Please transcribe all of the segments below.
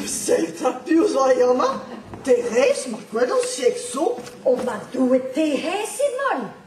Seiz ha diouz a Yana, Therez, ma gwelont siek zo, o ma Doue, Therez emañ!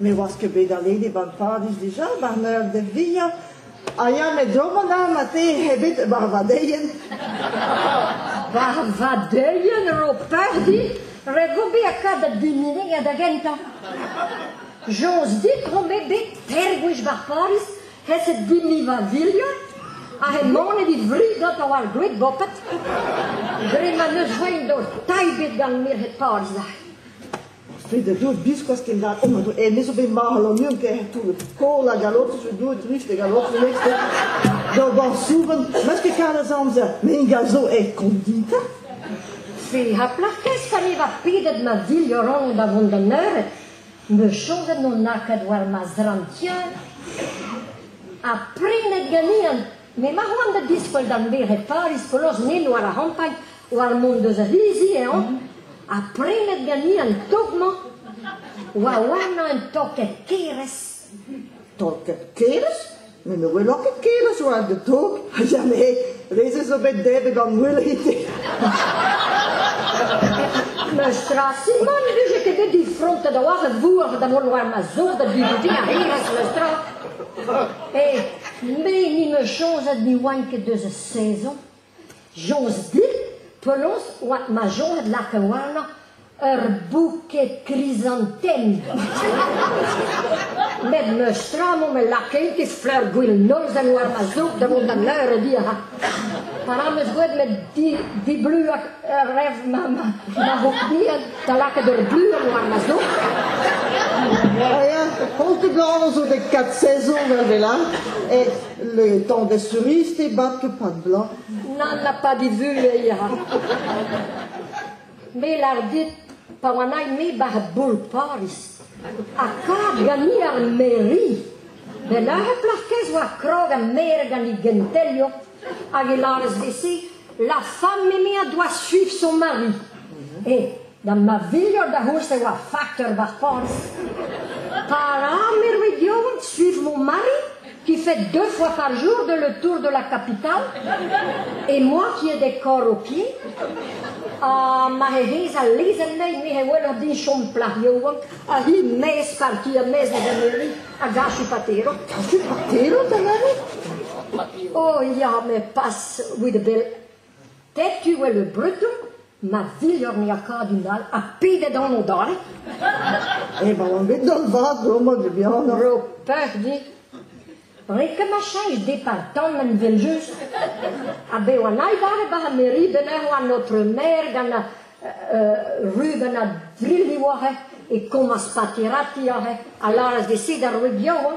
Ne oas ket bet alese ban padus dija, mar meur de via. A ya met domon ar mate hebet war vadeien. War vadeien ro pardi, regobi a kad da diminig a da gentañ. Joz dit rome bet tergwich bar Paris, heset dimni va vilio, a he mone dit vridot a oar gwet bopet. Dre ma neus roin do taibet gant mir het Paris da. Fede deuet biskoazh kenlakaet ma doa. Me zo bet marc'h Lanion kaer tout. Koll a galotez zo deuet drist e galotez next. D'o bar souven, met ket kar az amzer. Me ingal zo e kondita. Fe ha plac'h kaezh pa niver pedet ma dilhoron da vont d'an eured. Me chomet on akad war ma zrantier. Ha prenet ganin. Me ma c'hoant da diskwel d'an bere Paris, Koloz, Nin, war ar c'hampagn. War mont deus Rizi eo, ha prenet ganin an tok-mañ oa warnañ un tokad kerez. Tokad kerez? Met ne weloc'h ket kerez oa an tok? Ya me, re-se zo bet debet an ouelite. N'eus tra simant vije ket bet difrontet a-walc'h a vourc'h da mont war ma zor da dubudi a renas n'eus tra. E, me ni me chozet ni oaint ket deus a saezon, Joz di, penaos 'oa ma soñj lakaouanañ ur bouquet krisantennañ. Met n'eus tra mont me lakain ket fleur-gwil nolzen war ma zoug da vont da leurediñ a ra. Pa ra 'm eus gwelet met di- dibluañ ur rev ma ma ma c'hourbiad da lakaat ur bluan war ma zoug. Ah ya, kontet gant zo dek kat sezon 'vel 'vel all. Et Le temps des cerises est bas de pain blanc. N'en a pas divuleira. Me lar dit, pa oan ai me bar bol Paris, ha kar gani ar meri. Be lare plac'hkez oa krog a mere gant he gentelio, hag e laras vesi, la femme eme a doa suiv son mari. E, Da ma filhor da c'houlz e oa fakteur ba'r porzh. Pa ram er region suivre mon mari, qui fait deux fois par jour de le tour de la capitale, et moi qui ai des corps au pied, ha ma he hez al lezenn nei me he welout din chom plac'h yaouank, ha hi mez par ki a mez da Emery, a gachu patero. Gachu patero, da mari? Oh, ya, me pas with a bill. Setu eo le breton ma filhor miakadum all ha pedet anv dale. Emaon bet d'an vad domod bihannoc'h. Ro peur dit. Ret ket ma cheñch depal tamm en veljust. Ha bev an aibare ba ha meri benec'h an notre maer gant a euh, ru gant a drilli oa he e komas patirati a he a laras de se d'ar roue bihan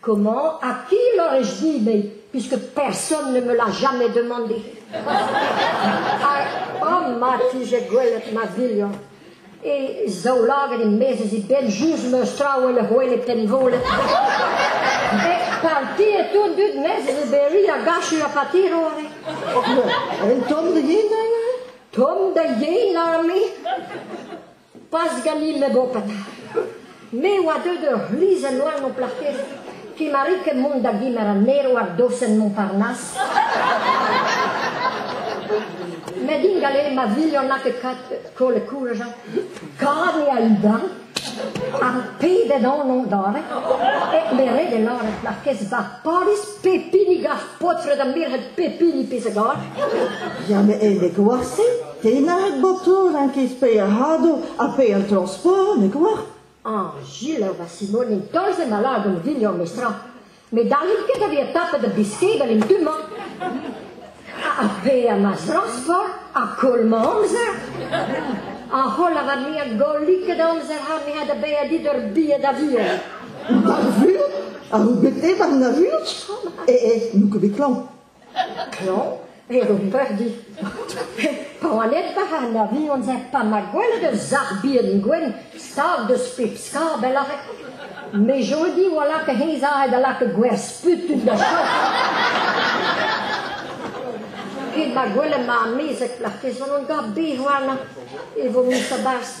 Komañ ha piv lâr eo zibeilh puisque personne ne me l'a jamais demandé. Ha mat vije gwelet ma bilhon. E zaoulaget e-maez e benn just meus traoù e c'hwel e penvolet. Bet parti e tout dud mes e beri a gachu a patirore. Un tomm da yen, Tom da yen, arme? Pas-Galil Lebopen. Me a oa deuet ur c'hlizenn all m'ho plac'h ket, ket ma ri ket mont da gemer an erv hag dosenn Montparnasse. Met din galet ma vihan n'a ket kat kollet kourajañ. Kavet eo al dan, ar pedet anv dare, hep me ret e lâret markez ba Pariz pep hini gaf paotred ha merc'hed pep hini pezh a gar. Ya, met e vez gwazh-se ? Tennañ botoù n'int ket spereadoù ha paeañ torr-sport n'eo ket war ? Ah, selaou va Simone, dolz eo ma lagan William, mestra. Ne dallit ket da vezañ tapet da biskebel en du-mañ. Ha bezañ ma zrosfor ha koll ma amzer. A holl avat me a golliked amzer ha me a da bezañ dit ur biad aviel. Ar vuhez a ro bet evañ ar vuhez e e n'eo ket bet klañv. Klañv eo goperdi. Pa oan edvac'h an avion-se, pa 'ma gwelet ur sac'h bihan gwenn stag deus pep skabell arall, me zo di oa laka hennezh aze da lakaat gwer sputun da chom. Ket ma gwelen ma amezeg, marteze on gant bez warnañ e vo mis a-barzh.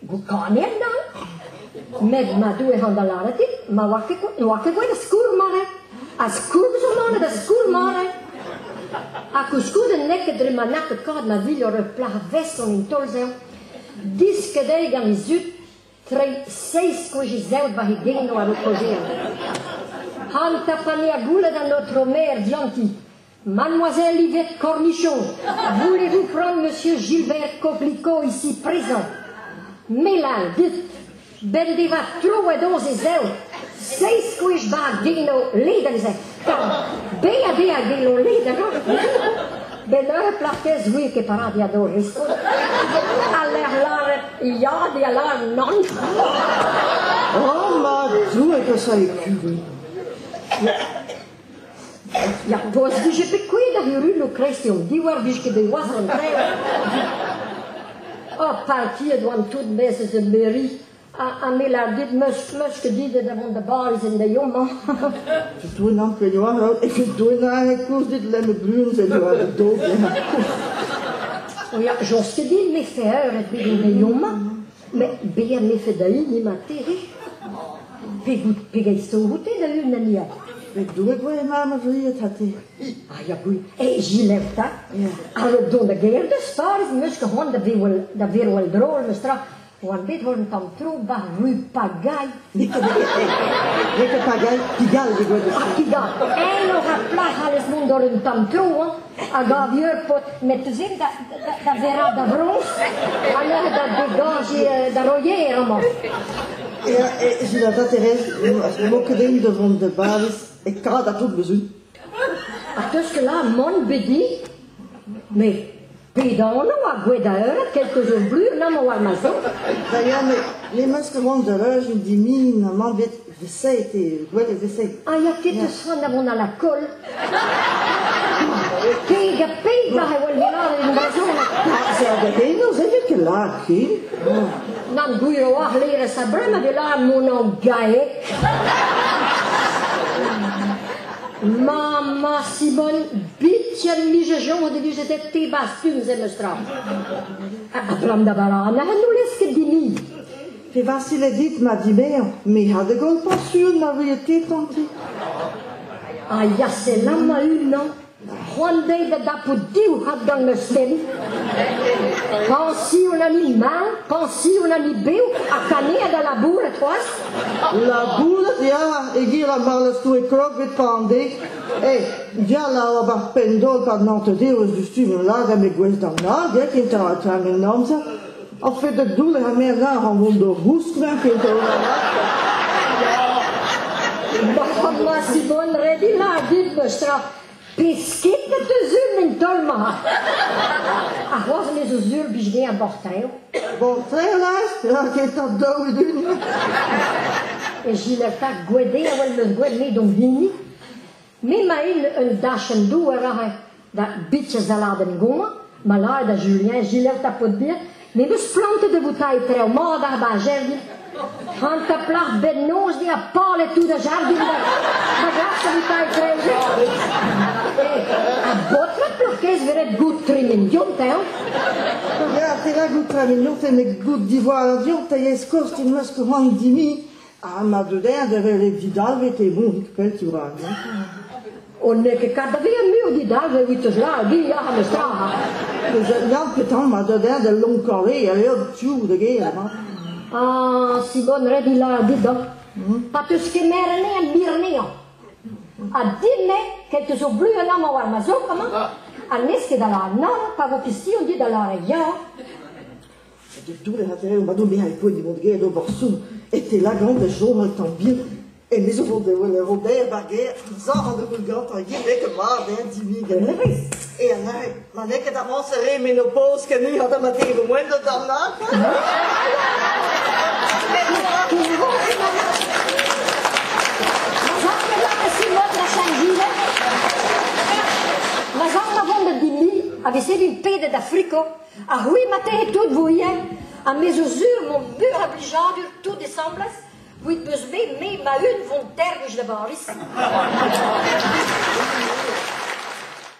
Gokaned dall? Met ma Doue hañ da lâret dit, ma oar ket, n'oar ket gwelet skoulm-mare. Ha skoulm zo manet da skoulm-mare. Ha koulskoude n'eo ket dre ma n'a ket kavet ma vilor ur plac'h veson en taol-sev. Disket eo gant he zud treiñ seizh gwech zev war he genou ar ho kozhier. Han tapane a goulet an aotrou maer dianti. Mademoiselle Yvette Cornichon, voulez-vous prendre Monsieur Gilbert Coplicot ici présent Melal dit, ben devat troet ons e zev, seizh gwech bag geno ledan zet, be a be a geno ledan Ben ur plac'h zouie ket parad ya do riskon, a ler laret ya de a lar nan. Oh, ma Doue, que ça écrit Ya, vo ez dije bet kuit ar Yurun o kreskiñ an divhar vije ket bet noazh an traeñ. Oh, partiet oan tout mes eus ur mairie ha, ha me lar dit meus meus ket dit da vont da Bariz en da yomañ. Doenan pegoan out eget doenan e kours dit lenn e blun se eo da dog. Oh ya, jos ket dit me fer ebet en da yomañ. Met bezañ 'nefe da-hini ma tec'he, pegout pegeit sto oute da-unan ya? Met Doue voe e mab a vried ha te. Ah ya boui, e Gilef 'ta, avet don da gêr deus Pariz em eus ket c'hoant da verwal da verwal drol meus tra. Oan bet 'vo un tamm tro 'ba rue Pagaille N'eo ket hag Pigal he doa deus Pigal. Eñ aura plac'h alles mont d'or un tamm tro hein, hag ar vieur-pod met zin da da verra da vroñs ha neuze da degañji da roier amañ. J'ai la d'intérêt, az m'emañ ket eñ da vont da bavez e kad a tout bezun. Ar teus que là, mon bedi, mais Pedaonoù ar gwez-da-heul, kelto zo blur amañ war ma zro. Da ya, met n'emañ ket mont da reuziñ dimin amañ bet veseit eo, gwelet veseit. Ah, ya, ket eus c'han da vont a la koll. Keg ha peg war e wel lavaret en brezhoneg. Ah, se a gadennoù, se ket ket lâr, ki. Nan gwir oar lêrez a-brem hag e lâr mon an gae. Maman Simone, biken nijejon o deus eta te bastumz em eus tra. Abram da barana, n'o lez ket din-ni. Pe Vasile dit ma dibezañ, me ha da goll pañsion na vehe te tanti. Ha ya, selam a unan. C'hoant dezhi da dapout div raddal n'eus ken. Pañsion a ni mat, pañsion a ni bev, ha kanead a labouret c'hoazh. Labouret ya, e-giz a marlestoue kloget pande. Eh, gall a oa war penn-dol pa nante dev eus du stumm lagad me gwez d'an hag, eh, kentañ tag an amzer. Ar fed da doull ha merzañ a ra mont d'ur gousklañv pe d'ur Marc'had ma Simone Redina a dit deus tra pesked met da zul en taol-mañ. Ha c'hoazh me zo zul bij me a bortrev. Bortrelaj? Ra ket ar daou dun. E Gileta Gwede a wel meus gwed me don hini. M'emaint un dachenn-douar aze da bitez-aladenn gomañ, malaet ha Julien Gilbert a paotr bihan, me 'meus plantet e voutailh traoù mat ar bajenn. Hanter plac'h bennozh ne a palet tout a jardin da, da gas e voutailh traoù. Ha baotred plac'h-kaezh veret goût tremen diontañ. Ya, perak out tremen diontañ met goût divoallañ diontañ e-skoaz te 'meus c'hoant dimiñ Ha ma deuer e veze didalvet e vonig pell-tioù-rag. On n'eo ket kadrien mui didalvet evit eus la, gi ya, mes ta. Ya, petan ma deuer da lonkavé a eo tioù da ger, ma. Ah, si bon red ila dido. Pa teus kemeret en birneo. Ha dimne, ket eus o bluan amañ war ma zok amañ, ha n'ez ket da la nan, pa vo pistion dit da la ya. Toull a tere ma dom e poent e mont get d'ober son e te lagant da chom un tamm bihan. Emezi o vont da welet Robert ar gêr, zor an devout gantañ gevek mat eo dinig an hêrezh. E an areg, ma n'eo ket amañs re menopause ken ha da ma te moen da darnat. Ma zad ma vont da Dilli, a vez din pedet da friko, Ha c'hwi ma tec'hit tout vo ivez, ha me zo sur m'omp meur a blijadur tout asambles, ewit beus bet me ma-un vont tergoj da Bariz.